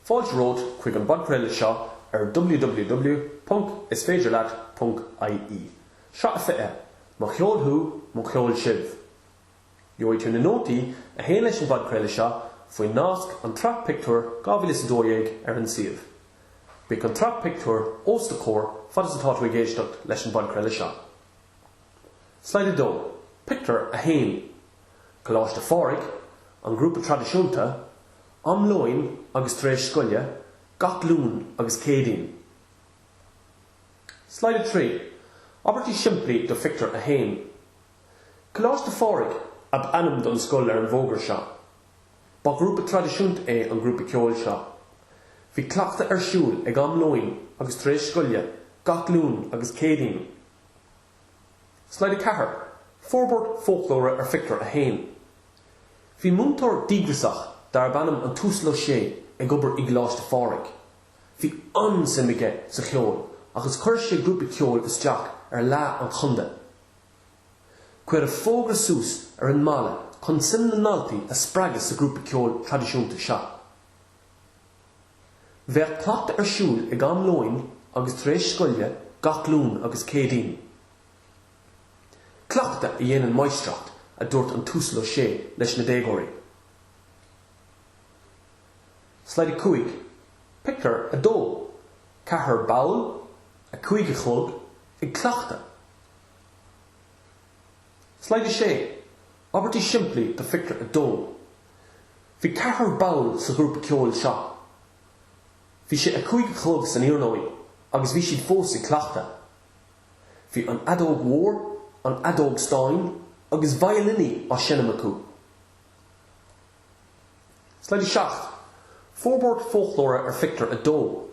Fáilte romhat chuig an bpodchraoladh seo ar www.isféidirleat.ie. Sraith a 20, Mo cheol thú, mo cheol sibh! Gheobhaidh tú na nótaí a théann leis an bpodchraoladh seo faoin nasc An tSraith Pictiúr 2012 ar an suíomh. Bíodh an tsraith pictiúr os do chomhair fad is atá tú ag éisteacht leis an bpodchraoladh seo. Slide 2, Pictiúr 1, Coláiste Phádraig, an grúpa traidisiúnta, am lóin agus tar éis scoile, gach Luan agus Céadaoin. Slide 3, Abairtí simplí do Phictiúr 1, Coláiste Phádraig ab ainm don scoil ar an bhfógra seo. Ba ghrúpa traidisiúnta é an grúpa ceoil seo. Bhí cleachtadh ar siúl ag am lóin agus tar éis scoile, gach Luan agus Céadaoin. Slide 4, Forbairt foclóra ar Phictiúr 1 Bhí múinteoir díograsach darb ainm an tUasal Ó Sé ag obair i gColáiste Phádraig. Bhí an-suim aige sa cheol agus chuir sé grúpa ceoil isteach ar Fhleadh an Chontae. Cuireadh fógra suas ar an mballa chun suim na ndaltaí a spreagadh sa ghrúpa ceoil traidisiúnta seo. Bheadh cleachtadh ar siúl ag am lóin agus tar éis scoile gach Luan agus Céadaoin. Cleachtadh a dhéanann máistreacht, a dúirt an tUasal Ó Sé leis na déagóirí. Slide 5, Pictiúr 2 Ceathrar ball, a 5 a chlog, ag cleachtadh. Slide 6, Abairtí simplí do Phictiúr 2. Bhí ceathrar ball sa ghrúpa ceoil seo. Bhí sé a cúig a chlog san iarnóin agus bhí siad fós ag cleachtadh. Bhí an fheadóg mhór, an fheadóg stáin agus veidhlíní á seinm acu. Slide 7, Forbairt foclóra ar phictiúr 2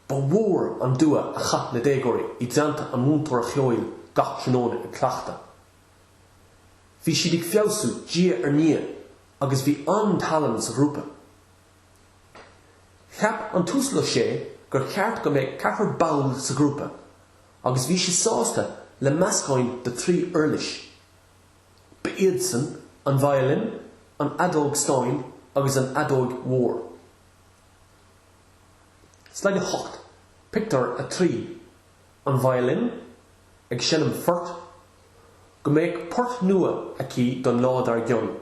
Ba mhór an dua a chaith na déagóirí i dteannta an mhúinteora cheoil gach tráthnóna ag cleachtadh. Bhí siad ag feabhsú diaidh ar ndiaidh agus bhí an-tallann sa ghrúpa. Cheap an tUasal Ó Sé gur cheart go mbeadh ceathrar ball sa ghrúpa agus bhí sé sásta le meascán de thrí uirlis. Ba iadsan an veidhlín, an fheadóg stáin agus an fheadóg mhór. Slide 8, Pictiúr 3. an veidhlin ag seinm phoirt, go mbeadh port nua aici don lá dar gcionn.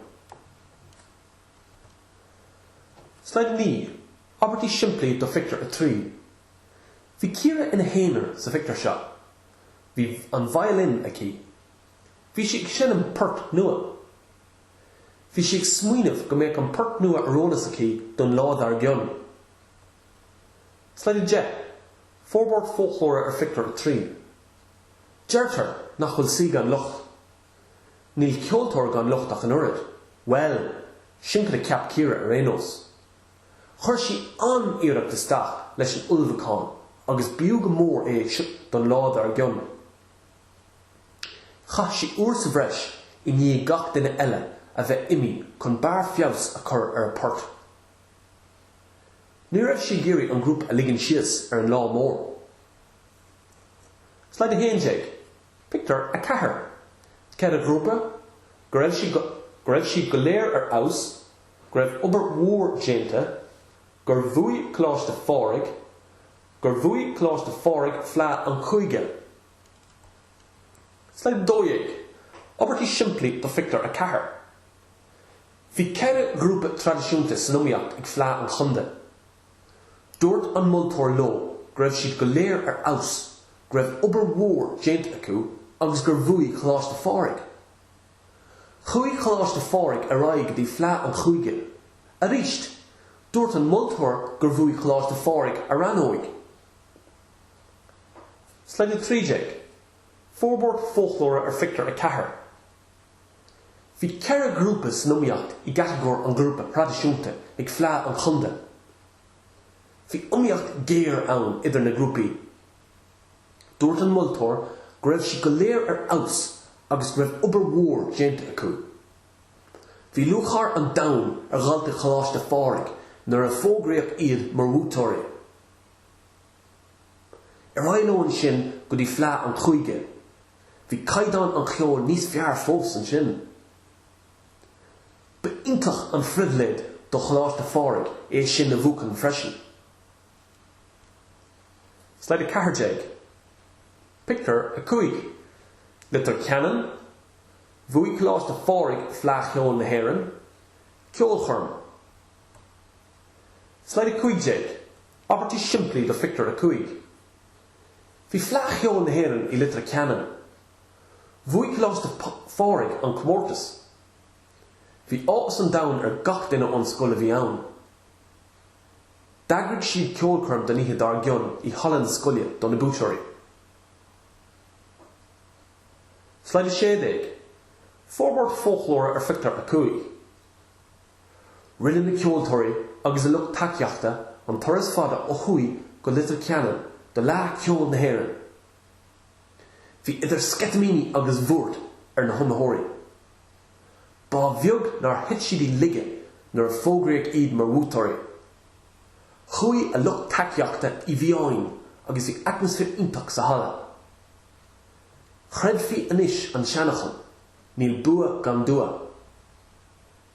Slide 9, Abairtí simplí do Phictiúr 3 Bhí Ciara ina haonar sa phictiúr seo. Bhí an veidhlin aici. Bhí sí ag seinm port nua. Bhí sí ag smaoineamh go mbeadh an port nua ar eolas aici don lá dar gcionn. Slide 10, Forbairt foclóra ar phictiúr 3. Deirtear nach bhfuil saoi gan locht. Níl ceoltóir gan locht ach an oiread. Bhuel, sin cad a cheap Ciara ar aon nós. Chuir sí an-iarracht isteach leis an ullmhúchán agus b'fhiú go mór é seo don lá dár gcionn. Chaith sí uair sa bhreis i ndiaidh gach duine eile a bheith imithe chun barr feabhais a chur ar a port Ní raibh sí ag iarraidh an grúpa a ligean síos ar an lá mór. Slide 11, Pictiúr 4 Ceithre ghrúpa go raibh siad go léir ar fheabhas, go raibh obair mhór déanta, gur bhuaigh Coláiste Phádraig gur bhuaigh Coláiste Phádraig Fleadh an Chúige. Slide 12, Abairtí simplí do Phictiúr 4. Bhí ceithre ghrúpa traidisiúnta san iomaíocht ag Fleadh an Chontae. Dúirt an moltóir leo go raibh siad go léir ar fheabhas, go raibh obair mhór déanta acu agus gur bhuaigh Coláiste Phádraig. Chuaigh Coláiste Phádraig ar aghaidh go dtí Fleadh an Chúige. Arís, dúirt an moltóir gur bhuaigh Coláiste Phádraig a rannóg. Slide 13, Forbairt foclóra ar phictiúr 4. Bhí ceithre ghrúpa san iomaíocht i gcatagóir an ghrúpa thraidisiúnta ag Fleadh an Chontae. Bhí iomaíocht ghéar ann idir na grúpaí. Dúirt an moltóir go raibh siad go léir ar fheabhas agus go raibh obair mhór déanta acu. Bhí lúcháir an domhain ar dhaltaí Choláiste Phádraig nuair a fógraíodh iad mar bhuaiteoirí. Ar aghaidh leo ansin go dtí Fleadh an Chúige. Bhí caighdeán an cheoil níos fearr fós ansin. Ba iontach an phribhléid do Choláiste Phádraig é sin a bhuachan freisin. Slide 14, Pictiúr 5, Leitir Ceanainn, Bhuaigh Coláiste Phádraig Fleadh Cheoil na hÉireann, Ceolchoirm. Slide 15, Abairtí simplí do Phictiúr a Cúig, Bhí Fleadh Cheoil na hÉireann i Leitir Ceanainn. Bhuaigh Coláiste Phádraig an comórtas. Bhí áthas an domhain ar gach duine ón scoil a bhí ann. D'eagraigh siad ceolchoirm don oíche dár gcionn i halla na scoile do na buaiteoirí. Slide 16, Forbairt Foclóra ar Phictiúr a Cúig. Rinne na ceoltóirí agus a lucht tacaíochta an turas fada ó thuaidh go Leitir Ceanainn do Fhleadh Cheoil na hÉireann. Bhí idir sceitimíní agus bhuairt ar na hiomaitheoirí. Ba bheag nár thit siad i laige nuair a fógraíodh iad mar bhuaiteoirí. Chuaigh a lucht tacaíochta i bhfiáin agus bhí atmaisféar iontach sa halla. Chreidfí anois an seanfhocal, Níl bua gan dua.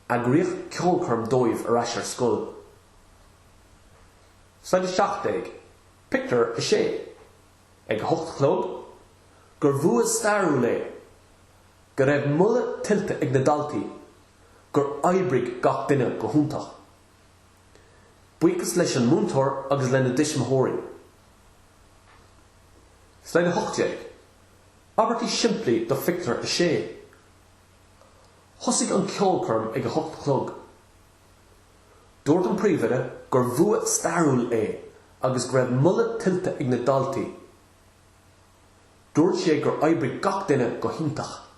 Eagraíodh ceolchoirm dóibh ar ais ar scoil. Slide 17, Pictiúr 6 Ag a hocht a chlog, gur bhua stairiúil é, go raibh moladh tuillte ag na daltaí, gur oibrigh gach duine go hiontach. Buíochas leis an múinteoir agus lena dtuismitheoirí. Slide 18, Abairtí simplí do Phictiúr 6. Thosaigh an ceolchoirm ag a hocht a chlog. Dúirt an príomhoide gur bhua stairiúil é agus go raibh moladh tuillte ag na daltaí. Dúirt sé gur oibrigh gach duine go hiontach.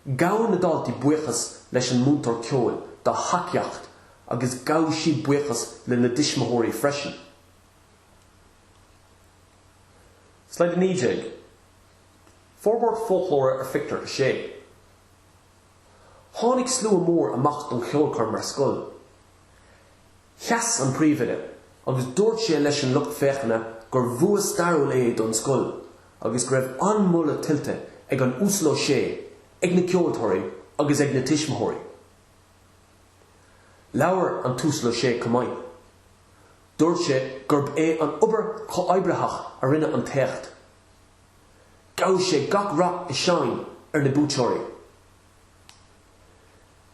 Ghabh na daltaí buíochas leis an múinteoir ceoil dá thacaíocht agus ghabh siad buíochas lena dtuismitheoirí freisin. Slide 19. Forbairt foclóra ar phictiúr 6. Tháinig slua mór amach don cheolchoirm ar scoil. Sheas an príomhoide agus dúirt sé leis an lucht féachana gur bhua stairiúil é don scoil agus go raibh an-mholadh tuillte ag an Uasal Ó Sé, ag na ceoltóirí agus ag na tuismitheoirí. Labhair an tUasal Ó Sé chomh maith. Dúirt sé gurb é an obair chomhoibritheach a rinne an t-éacht Ghuigh sé gach rath is séan ar na buaiteoirí.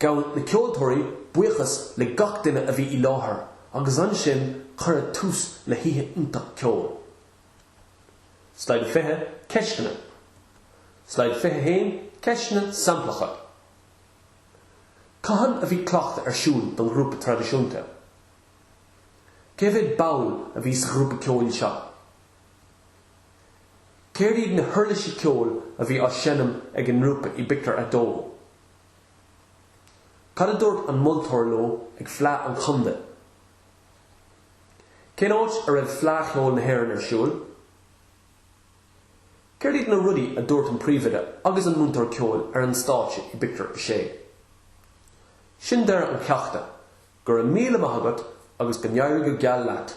Ghabh na ceoltóirí buíochas le gach duine a bhí i láthair agus ansin cuireadh tús le hoíche iontach ceoil. Slide 20, Ceisteanna Slide 21, Ceisteanna Samplacha Cathain a bhí cleachtadh ar siúl don ghrúpa traidisiúnta? Cé mhéad ball a bhí sa ghrúpa ceoil seo? Céard iad na huirlisí ceoil a bhí á seinm ag an ngrúpa i bpictiúr a dó? Cad a dúirt an moltóir leo ag Fleadh an Chontae? Cén áit a raibh Fleadh Cheoil na hÉireann ar siúl? Céard iad na rudaí a dúirt an príomhoide agus an múinteoir ceoil ar an stáitse i bpictiúr a sé? Sin deireadh an cheachta, go raibh míle maith agat agus go n-éirí go geal leat!